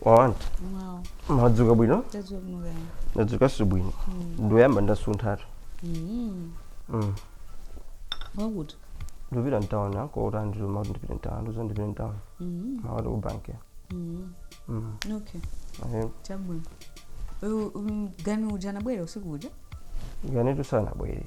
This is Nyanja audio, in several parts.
wawani Wow. madzuka bwino That's what I'm going. nadzukanso bwino ndiyamba ndasunthatu Mm. Mm. What would? ndipita mtawuni uko kuti andiluma kuti ndipite mtawuni ndizo ndipite mtawuni Mm. mmawa ku banki Mm. Mm. Okay. Ahe. Chabwino. Uyu um, gani uja anabwera usiku uja? ganitu sanabwere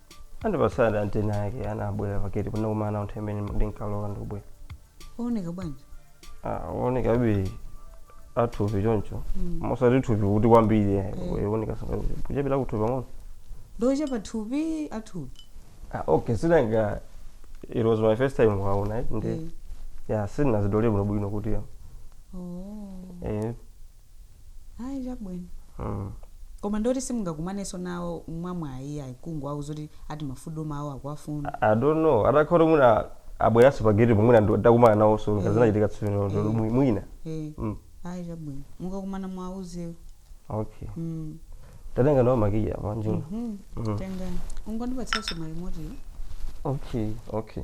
Andipatsadi anti ake anabwera pa gate tinakumana nawo nthawi imene ndinkalowa ndikubwera. Ooneka bwanji? Ah, wooneka bi athupi choncho. Mosati thupi kuti kwambiri eh, Eh. wooneka sangati kuchepera kuthupi pang'ono. Ndi ochepa thupi athupi. Ah, okay, sinanga it was my first time kuwaona eh, ndi. Eh. Yeah, sindinazidziwe bwinobwino kuti Oh. eh ayi chabwino mm. koma ndiye kuti simungakumanenso nawo mwamwayi ayi kungowauza kuti ati mafuta mawo akuwafuna I don't know atakhala kuti mwina abweranso pa gate pomwina ndi- takumana nawonso Eh. ngazinachitika tsopano Eh. mwi- mwina Eh, Mm. ayi chabwino mukakumana mwauzewo okay Mm, tatenga nawo makiyi anjinga mhm. Mm. tengani ungondipatsanso ma remote okay okay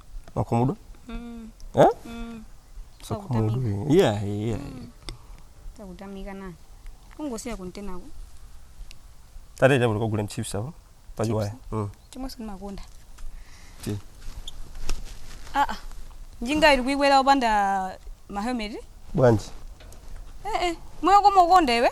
wakhumudwa Mm. eh? Mm. Sakutamika. Sakhumudwa. yeah, yeah. Sakutamika nani. Kungosiya kuntenako. tiye tikagule chips apo pachiwaya mm. Chomwe sikumakonda. Ti. Ah ah. Njinga iti kuikwera opanda ma helmet. bwanji Eh eh. Moyo kumaukonda iwe.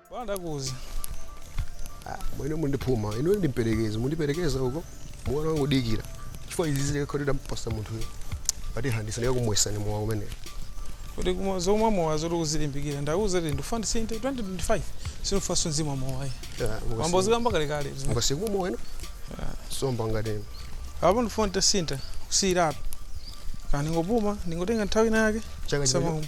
Bwana ndakuuza. Ah, amwene mundiphuma. Inu mundiperekeze, mundiperekeza uko. Mwana wangu dikira. Chifukwa izi zili kale ndampatsa munthu uyo. Pati handisa ndiye kumwesa ni mwa umene. Kuti kumwa zomwe mowa zoti uzilimbikira ndauza kuti ndifuna ndisinthe 2025 sindifunanso ndizimwa mowa ayi. Mwayamba kuzikamba kale kale. Mungasiye kumwa mowa inu? Somba ngati inu. Apo ndifuna nditasintha kusiyira apo. Kaya ndingopuma ndingotenga nthawi ina yake. Chaka chamawa chino.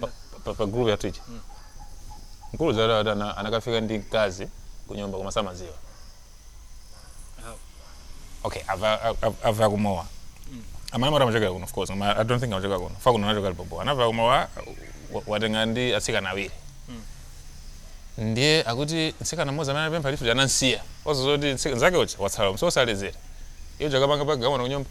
pa, pa, pa group yathu ija mkulu zara ati ana- anakafika ndi mkazi ku nyumba koma samadziwa okay afa afa- afa kumowa amene mara amachokera kuno of course koma i don't think amachokera kuno fa kuno anachokera lipopo anafa kumowa wa- watenga ndi atsikana awiri ndiye akuti mtsikana mmodzi amene anapempha lift anamsiya ozo zoti mtsika- nzake uja watsala maso osaledzera iye uja akapanga pokagona kunyumba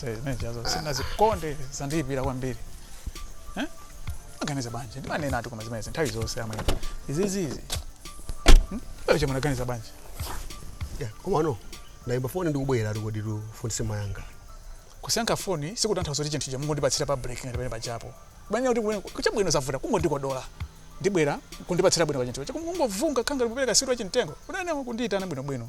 zimenezo sinazikonde zandiyipira kwambiri Eh? maganizo bwanji ndimanena ati koma zimenezi nthawi zonse amwene izizizi acho munaganiza bwanji Yeah, komano ndayimba foni ndikubwera tikodi tifunse mayanga kusayankha foni sikutanthauza kuti chinthu chamungondipatsira pa break ngati pamene paja po mumanena kuti kubwera- chabwino zavuta kungondikodola ndibwera kundipatsira bwino pachinthu chamungovunga ngati mukupereka sweet wachimtengo munene kundiyitana bwinobwino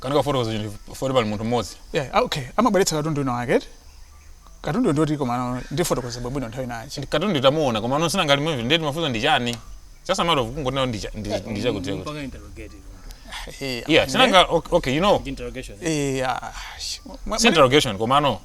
Kanikafotokoza chinthu chifukwa pali munthu mmodzi. Yeah, ah, okay. Amabweretsa katundu wina wake. Katundu ndi woti komano ndifotokoza bwino nthawi inayake. Katundu tidamuona komano si nanga limwe ndiye timafunsa ndi chani. Just a matter of kungonena ndi cha- ndi ndi chakuti chakuti. Kupanga interrogate. Eh, Yeah, sinanga okay, okay, you know. Interrogation. Eh, ah, sh- mwa- It's interrogation komano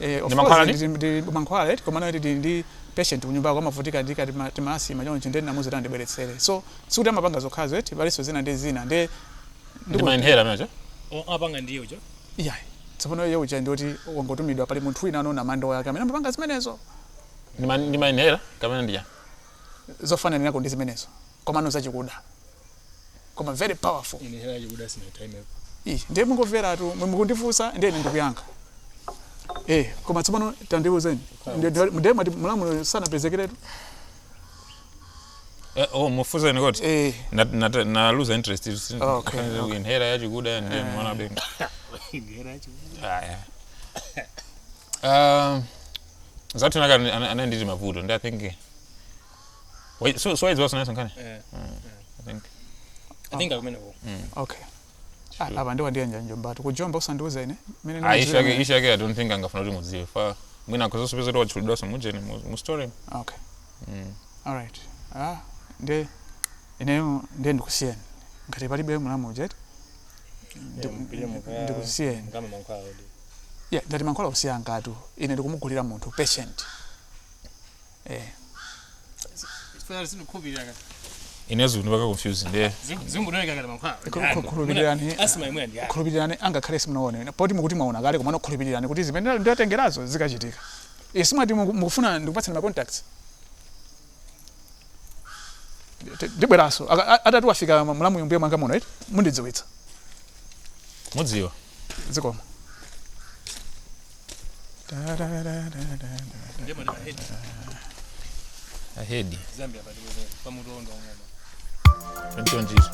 Eh, of Ndi course, mankhwala ndi- ndi- ndi- ndi mankhwala right koma ano tili ndi patient kunyumbako amavutika ndi kati ma- ti ma asthma choncho ndiye ndinamuuza tandibweretsere so sikuti amapanga zokhazo eti palinso zina ndi zina ndi Ndi ma inhaler amenecho. apanga ndiyo cho yeah tsopano iye uja ndi woti wangotumidwa pali munthu wina anonamandiyake amene amapanga zimenezo Ndi ma- ndi ma inhaler kapena ndi chani? zofananirako ndi zimenezo komano zachikuda koma very powerful inhaler yachikuda sindinaitrayepo Ih, ndiye mungomveratu mwe mukundifunsa ndiye ine ndikuyankha eh koma tsopano tandiuzeni Ndi- ndi- ndiye mwati mulamuyo sanapezekeretu Eh, oh mufunseni kuti eh Na- na- naluza interest it, si- Okay, akanze okay. inhaler yachikuda ndi mwana be inhaler yachikuda aya Uh, zathu naka ana- ana- anali ndi mavuto ndi i think Wait, so so wayidziwa sinaso nkhani Eh, i think I think akumeneko. okay Ah, apa ndiwa ndiye mwajombatu kujomba usandiuza ine mene ah issue yake issue yake i don't think angafuna kuti mudziwe chifukwa mwina akhoza kupeza kuti watchulidwa somujeni mu story okay Mm. all right ah ndiye ineyo ndiye ndikusiyeni ngati palibe mulamu ujeti ndikusiyeni yeah, ndati mankhwala kusiya ngatu ine ndikumugulira munthu patient eh. inenso ndi mpaka confused ndiye khulupirirani angakhale simunaone poti mukuti mwaona kale komano khulupirirani kuti zimene ndiwatengerazo zikachitika isimati eh, mukufuna ndikupatsani ma contacts ndibweranso akati wafika mlamuyo mbuyo mwanga muno eti mundidziwitsa mudziwe zikomo ahedi chonchonjizo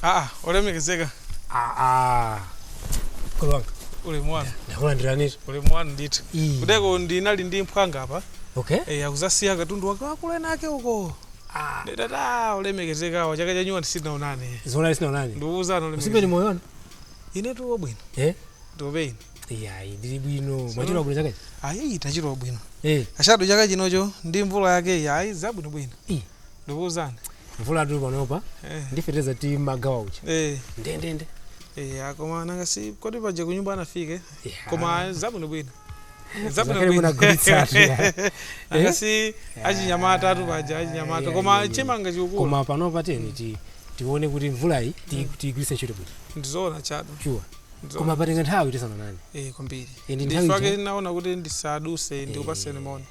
aa olemekezeka aa akulu wanga ulemu wanu ndakulandiranitu ulemu wanu ndithu Ii. kuteroko ndinali ndi mphwanga apa okay eya kuzasiya katundu wake wakulenake uko Ah. nditatha olemekezekawa chaka chanyowa tisanaonane zonadi sitinaonane ndikuwuzana usibe ni olemekezeka moyona ine tili wabwino eh tope ine iyayi ndili bwino mwachira bwino chakachi ayi tachira bwino eh ashado chaka chinocho ndi mvula yake ayi zabwino bwino Ih. ndikuwuzani mvulatu panopa eh ndi feteleza timagawa uja eh ndendende eh akoma nanga si kodi paja kunyumba anafike Yeah. koma zabwino bwino Zakale munagulitsatu, ya. asi achinyamatatu paja achinyamata Yeah, koma yeah, yeah. chimanga chikukula koma panopa teni ti tione kuti mvulayi ti- tiyigwiritse ntchito kuti ndizoona chado shuwa ndizoona. koma patenga nthawi tisanaonane Eh, kwambiri Indi nthawi ndifake ija- naona kuti ndisaduse ndikupaseni moni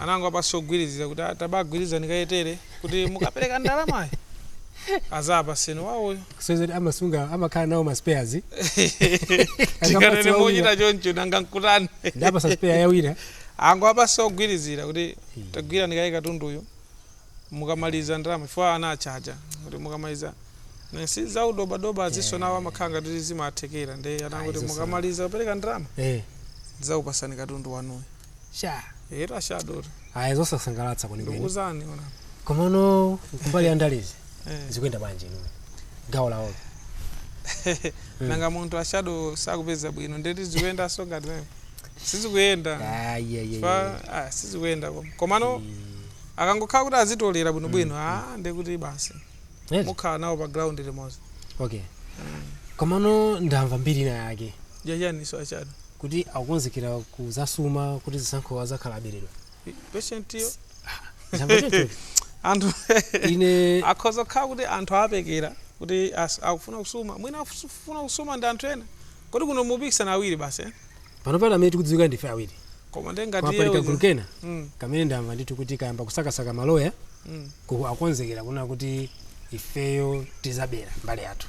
anangowapasa ogwilizila kuti tabagwilizani kaye tere kuti mukapeleka ndalamayo azapaseni wawoyo kusonyeza kuti amasunga amakhala nawo ma spares tikanene Akapatsa mochita wawina. choncho nanga nkutani ndapasa spare ya wina angowapasa ogwilizira kuti tagwirani kaye katunduyo mukamaliza ndalama chifukwa anachaja kuti mukamaliza Ne, si zaudobadoba izinso nawo amakhala ngati kuti zimathekera nde anangoti izo so. mukamaliza kupereka ndalama eh ndizakupasani katundu wanuyo sha Era shadori. aya zosasangalatsa kwenikweni Ndiuzeni zoona. komano kumbali ya ndalezi Eh. zikuyenda bwanji inu gawo lawolo Nanga munthu ashado sakupeza bwino ndeti zikuyenda so ngati mimi. Sizikuyenda. ayeyeye Fa ah sizikuyenda koma. Komano akangokhala kuti azitolera bwino bwino ah ndekuti basi. Mukhala nawo pa ground limodzi. okay komano ndamva mbiri ina yake Jajani so achado. kuti akukonzekera kuzasuma kuti zisankho azakhala aberedwa patient yo Zamba choncho. anthu ine akhoza kukhala kuti anthu apekera kuti as- akufuna kusuma mwina akufuna kusuma ndi anthu ena kodi kuno mupikisana awiri basi eh? pano pano amene tikudziwika ndife awiri koma ndi ngati kwapali iye kagulu uja- kena Mm, kamene ndamva ndithu kuti kayamba kusakasaka maloya mm. akukonzekera kunena kuti ifeyo tizabera mbali yathu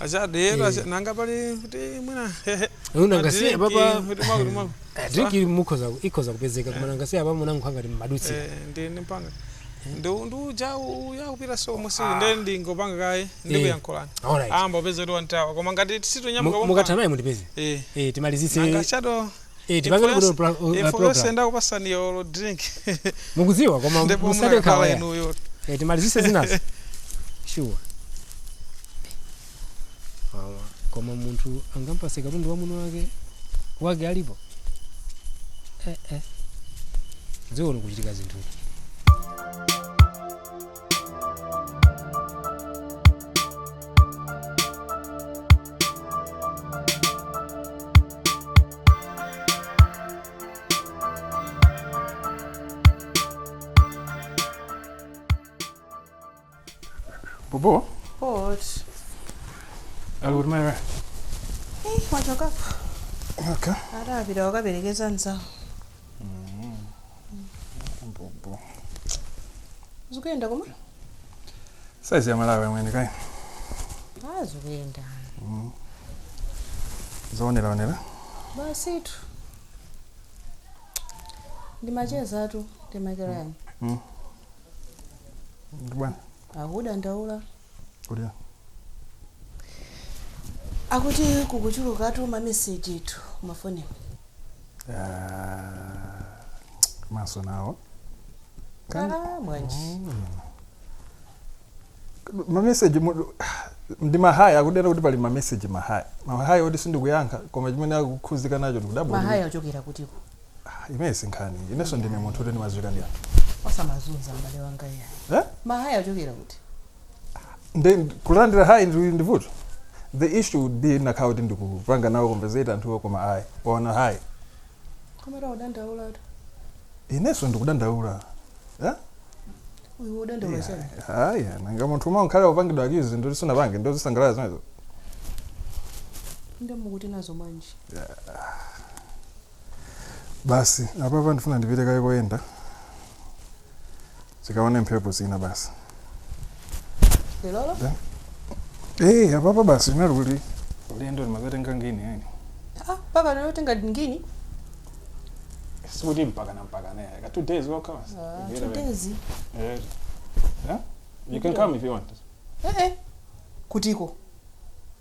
achade yetu acha- nanga pali kuti mwina munangosiya Adrinki, papa. kuti mwakuti mwaku- drinki mukhoza ikhoza kupezeka koma munangosiya apa munangokhala ngati mumadutsa Eh, ndi ndipanga ndi ndi uja uya kupita so musi ndi ndingopanga kaye ndikuyankhulani alright amba upeze kuti wandithawa koma ngati sitinyamuka Mu- mukatha naye mundipeze eh eh timalizitse nanga chado Eh, tipange Info kuti yonse- pro- uh, info program. yonse ndakupasani yolo drink mukuziwa koma ndipo musade nkhawa inuyo Eh, timalizise zinazo sure Awa, koma munthu angampase katundu wamuna wake wake alipo eh, eh. dziko likuchitika zinthu Bobo. Bwa? ali kuti mayi Eh, wachokapo. okay. Adapita akaperekeza nzawo. Bobo. zikuyenda koma Saizi ya Malawi amwene kaya. Ah, zikuyenda Zoonera onera. basitu ndi macheza atu ndi Makilani. Bwana. akudandaula Kulira. akuti kukuchulukatu ma mesejitu mufoni Ah, amazunza nawo Kan- Ah, bwanji mameseji mu- ndi mahayi akudera kuti pali mameseji mahayi mahayi oti sindikuyankha koma chimene akukhudzika nacho ndikudabwa mahayi ochokera kutiko Ah, imeneyo si nkhani inenso ndine munthu oti ndimadziwika ndi anthu osamazunza m'bale wanga iye eh? mahayi achokera kuti Ndi- kulandira hayi ndi ndi vuto the issue would be ndikanakhala kuti ndikupanga nawo conversate anthuwo koma ayi waona hayi koma akudandaulatu inenso ndikudandaula eh? uyu udandaula chani hayi nanga munthu umwe umakhala upangidwa akizi zinthu zoti sunapange ndiye uzisangalala zimenezo nde mukuti nazo bwanji basi apapa ndifuna ndipite kaye koyenda tikaone mphepo zina basi lilolo Da. Eh, apapa basi linali kuti ulendo limazatenga ngini yani ah, papa lero tenga ngini sikuti mpakana mpakana yaka two days wokha basi Ah, Ngiyela two wena. days Eh, yeah? you can come if you want eh, eh. kutiko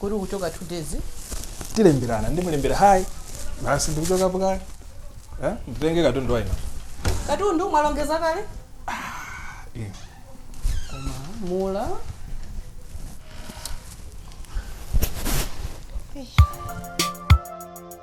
kuti kuchoka two days tilemberana ndimulembera hayi basi ndikuchokapo kale Eh, nditenge katundu wainu katundu mwalongeza kale Eh, mula